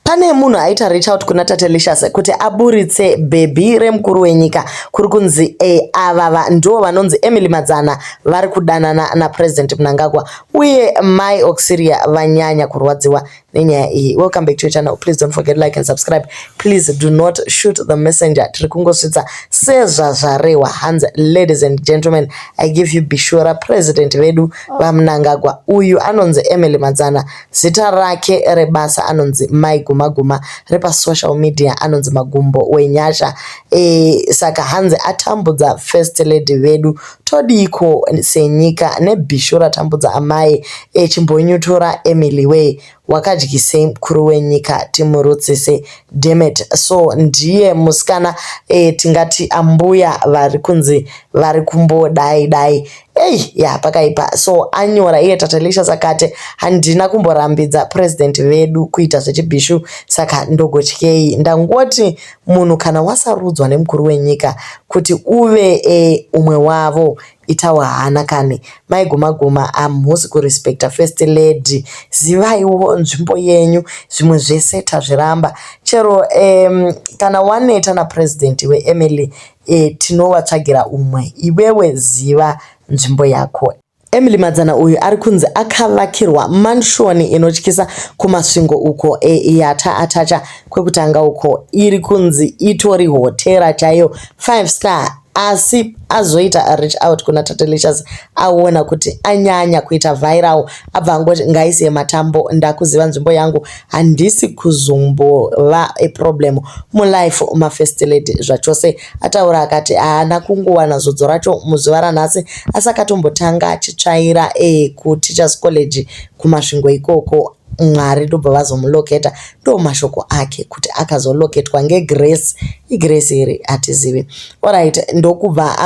Pane munhu aita reach out kuna Tatelicious kuti aburitse bhebhi remukuru wenyika kuri kunzi e, avava ndivo vanonzi Emily Madzana vari kudanana naPresident Mnangagwa uye Mai Auxilia vanyanya kurwadziwa nenyaya iyi. Welcome back to your channel. Please don't forget like and subscribe. Please do not shoot the messenger. Tiri kungosvitsa sezvazvarehwa hanzi ladies and gentlemen I give you Bishora President vedu vaMnangagwa uyu anonzi Emily Madzana Zita rake rebasa anonzi Mai Guma Guma repasocial media anonzi Magumbo Wenyasha. E, saka hanzi atambudza first lady vedu todiiko senyika nebhishu ratambudza amai e, chimbonyutura Emily wee wakadyisei mukuru wenyika timurutsise demet so ndiye musikana e, tingati ambuya vari kunzi vari kumbodai dai Hey, ya pakaipa so anyora iye tatelisha sakate handina kumborambidza president vedu kuita zvechibhishu saka ndogotyei ndangoti munhu kana wasarudzwa nemukuru wenyika kuti uve e, umwe wavo itawo hana kani maiguma guma hamusi kurespecta first lady zivaiwo nzvimbo yenyu zvimwe zvese tazviramba chero um, kana waneta napresident wemily Eh tinovatsvagira umwe iwewe ziva nzvimbo yako. Emily Madzana uyu ari kunzi akavakirwa mansion inotyisa kuMasvingo uko eh yata atacha kwekutanga uko iri kunzi itori hotera chaiyo five star asi azoita reach out kuna Tatelicious aona kuti anyanya kuita viral abva angoti ngaise matambo ndakuziva nzvimbo yangu handisi kuzombova a problem mulife ma first lady zvachose ataura akati haana kungowana zodzo racho muzuva ranhasi asi akatombotanga achitsvaira e kuteachers college kumasvingo ikoko mwari ndobva vazomuloketa ndo mashoko ake kuti akazoloketwa ngegrace igrace here hatizivi orit ndokubva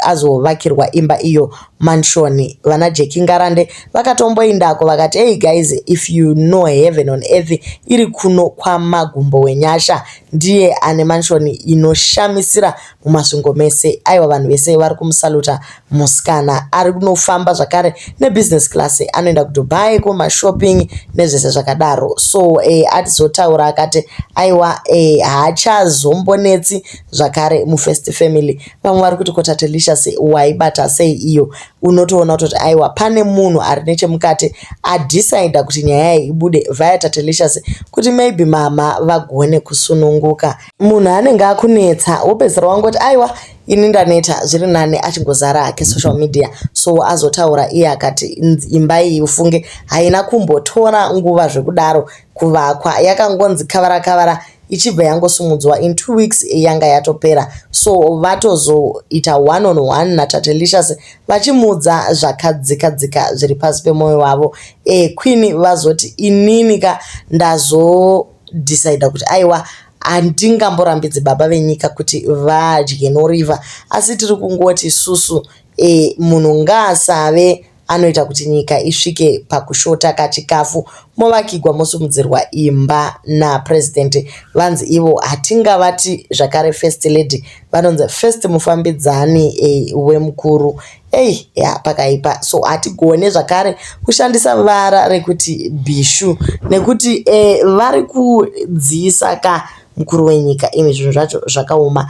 azovakirwa imba iyo mansion vana Jackie Ngarande vakatomboindako vakati hey guys if you know heaven on earth iri kuno kwamagumbo wenyasha ndiye ane mansion inoshamisira mumasvingo mese aiwa vanhu vese vari kumusaluta musikana ari kunofamba zvakare nebusiness class anoenda kudubai kumashopping nezvese zvakadaro so eh, atizotaura akati aiwa eh, haachazombonetsi zvakare mufirst family vamwe vari kuti kotatelicious waibata sei iyo unotoona kutoti aiwa pane munhu ari nechemukati adhisaidha kuti nyaya yayi ibude vaya tatelicious kuti maybe mama vagone kusununguka munhu anenge akunetsa wopedzisira wangoti aiwa ini ndaneta zviri nani achingozara hake social media so azotaura iye akati imba iyi ufunge haina kumbotora nguva zvekudaro kuvakwa yakangonzi kavara kavara ichibva yangosimudzwa in two weeks yanga yatopera so vatozoita one on one natatelicious vachimuudza zvakadzika dzika zviri pasi pemwoyo wavo e, queen vazoti inini ka ndazodecida kuti aiwa handingamborambidzi baba venyika kuti vadye noriva asi tiri kungoti susu e, munhu ngaasave anoita kuti nyika isvike pakushota kachikafu movakigwa mosimudzirwa imba napresident vanzi ivo hatingavati zvakare first lady vanonzi first mufambidzani e, wemukuru ei ya pakaipa so hatigone zvakare kushandisa vara rekuti bishu nekuti e, vari kudziisa ka Mukuru wenyika imi zvinhu zvacho zvakaoma.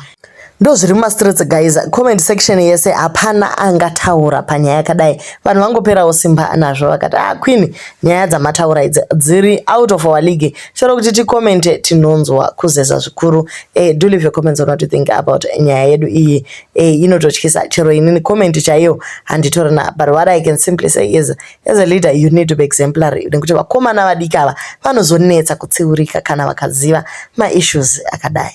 Ndozviri muma streets guys comment section yese hapana angataura panyaya yakadai vanhu vangoperawo simba nazvo vakati ah queen nyaya dzamataura idzi dziri out of our league chero kuti ticomente tinonzwa kuzeza zvikuru eh, do leave your comments on what you think about nyaya yedu iyi eh, inototyisa chero inini comment chaiyo handitorina but what i can simply say is as a leader you need to be exemplary nekuti vakomana vadiki ava vanozonetsa kutsiurika kana vakaziva maissues akadai